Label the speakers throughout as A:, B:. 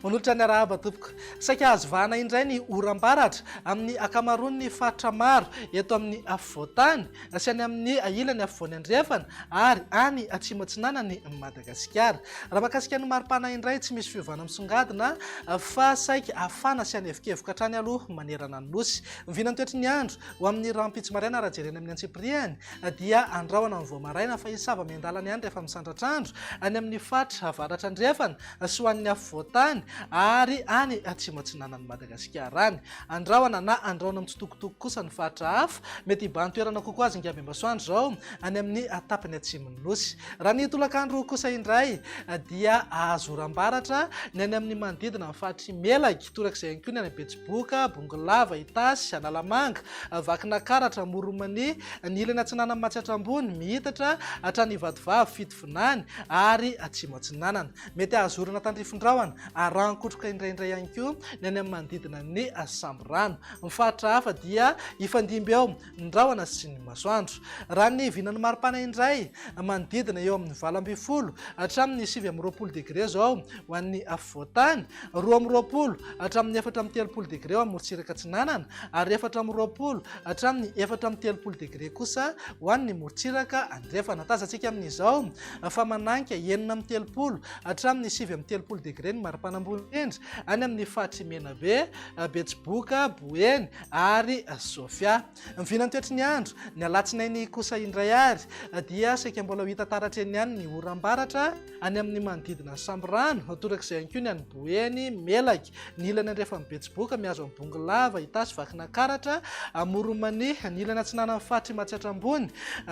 A: Manolotra ny arahaba tompoko. Saika azo vahana indray ny oram-baratra amin'ny ankamaroan'ny faritra maro eto amin'ny afovoan-tany sy any amin'ny ilany afovoany andrefana ary any atsimo atsinanan'i Madagasikara. Madagasikara. Raha mahakasika ny maripana indray tsy misy fiovana misongadina fa saika hafana sy hanevokevoka hatrany aloha manerana ny nosy. Ny vinan'ny toetry ny andro ho amin'ny rahampitso maraina raha jerena amin'ny antsipiriany dia andrahona amin'ny vao maraina fa hisava miandalana ihany rehefa misandratra andro any amin'ny faritra avaratra andrefana sy ho an'ny afovoantany ary any atsimo atsinanan'i Madagasikara any. Andrahona na andrahona mitsitokotoko kosa ny faritra hafa mety hibahan-toerana kokoa azy ny ngabem-basoandro izao any amin'ny tapany atsimo. Nosy. Raha ny tolakandro kosa indray dia azo oram-baratra ny any amin'ny manodidina ny faritr'i Melaky, torak'izay ihany koa ny any Betsiboka, Bongolava, Itasy, Analamanga, Vakinakaratra, Amoron'Mania, ny ilany atsinanan'i Matsiatra Ambony, mihitatra hatrany Ivatovavy, Fitovinany ary Atsimo Atsinanana. Mety hahazorana tandrifin-drahona ary ràn-kotroka indraindray ihany koa ny any amin'ny manodidina ny Samborano. Ny faritra hafa dia hifandimby eo ny rahona sy ny masoandro. Raha ny vinan'ny maripana indray, manodidina eo amin'ny valo ambin'ny folo hatramin'ny sivy amby roapolo degre izao ho an'ny afovoan-tany, roa amby roapolo hatramin'ny efatra amby telopolo degre eo amorontsiraka atsinanana ary efatra amby roapolo hatramin'ny efatra amby telopolo degre kosa ho an'ny morontsiraka andrefana. Tazantsika amin'izao fa mananika enina amby telopolo hatramin'ny sivy amby telopolo degre ny maripana ambony indrindra any amin'ny faritry Menabe, Betsiboka, Boeny, ary Sofia. Vina ny toetry ny andro, ny alatsinainy kosa indray ary dia saika mbola ho hita taratra eny ihany ny oram-baratra any amin'ny manodidina Sambirano, torak'izay ihany koa ny any Boeny, Melaky, ny ilany andrefan'ny Betsiboka mihazo an'i Bongolava, Itasy, Vakinakaratra, Amoron'Mania, ny ilany atsinanan'ny faritry Matsiatra Ambony.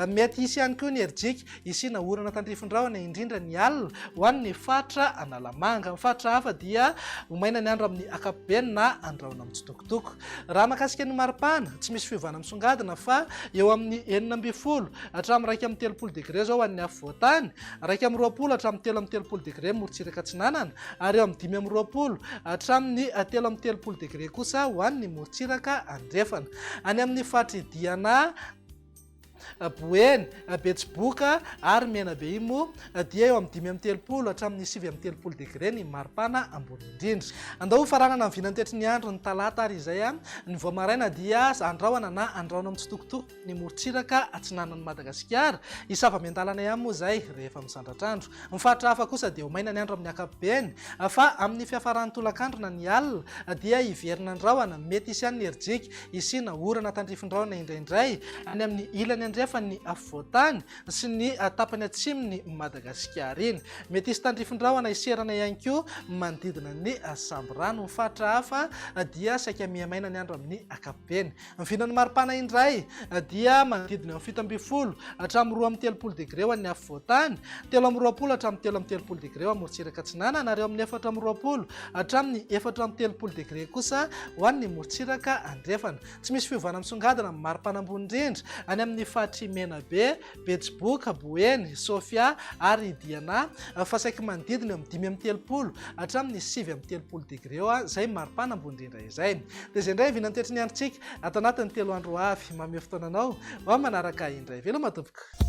A: Mety hisy ihany koa ny herijika hisiana orana tandrifin-drahona indrindra ny alina ho an'ny faritra Analamanga. Amin'ny faritra hafa dia ho maina ny andro amin'ny ankapobeny na andrahona mitsitokotoko. Dok. Raha mahakasika ny maripana, tsy misy fiovana misongadina fa eo amin'ny enina ambin'ny folo hatramin'ny iraika amby telopolo degre izao ho an'ny afovoan-tany, iraika amby roapolo hatramin'ny telo amby telopolo degre morontsiraka atsinanana ary eo amin'ny dimy amby roapolo hatramin'ny telo amby telopolo degre kosa ho an'ny morontsiraka andrefana. Any amin'ny faritry Diana, Boeny, Betsiboka ary Menabe imo dia eo amin'ny dimy amby telopolo hatramin'ny sivy amby telopolo degre ny maripana ambony indrindra. Andao ho faranana ny vinantetry ny andro ny talata ary izay ny vao maraina dia andrahona na andrahona mitsitokotoko ny morontsiraka atsinanan'i Madagasikara. Hisava miandalana ihany moa izay rehefa misandratra andro. Ny faritra hafa kosa dia ho maina ny andro amin'ny ankapobeny fa amin'ny fiafaran'ny tolakandro na ny alina dia hiverina ny rahona mety hisy ihany ny herijika hisiana orana tandrifin-drahona indraindray any amin'ny ilany andrefan'ny afovoan-tany sy ny tapany atsimon'i Madagasikara iny. Mety hisy tandrifin-drahona hiserana ihany koa manodidina ny sambirano. Ny faritra hafa dia saika miha-maina ny andro amin'ny ankapobeny. Ny vinan'ny maripana indray dia manodidina amin'ny fito ambin'ny folo hatramin'ny roa amby telopolo degre ho an'ny afovoan-tany, telo amby roapolo hatramin'ny telo amby telopolo degre ho an'ny morontsiraka atsinanana ary eo amin'ny efatra amby roapolo Hatramin'ny efatra amby telopolo degre kosa ho an'ny morontsiraka andrefana. Tsy misy fiovana misongadina amin'ny mari-panambony indrindra any amin'ny faritr'i Menabe, Betsiboka, Boeny, Sofia ary Diana fa saiky manodidina eo amin'ny dimy amby telopolo hatramin'ny sivy amby telopolo degre eo izay mari-panambony indrindra izay. Dia izay indray vinantoetry ny androntsika ato anatin'ny telo andro ho avy. Mamehy fotoana anao ho amin'ny manaraka indray. Veloma tompoko.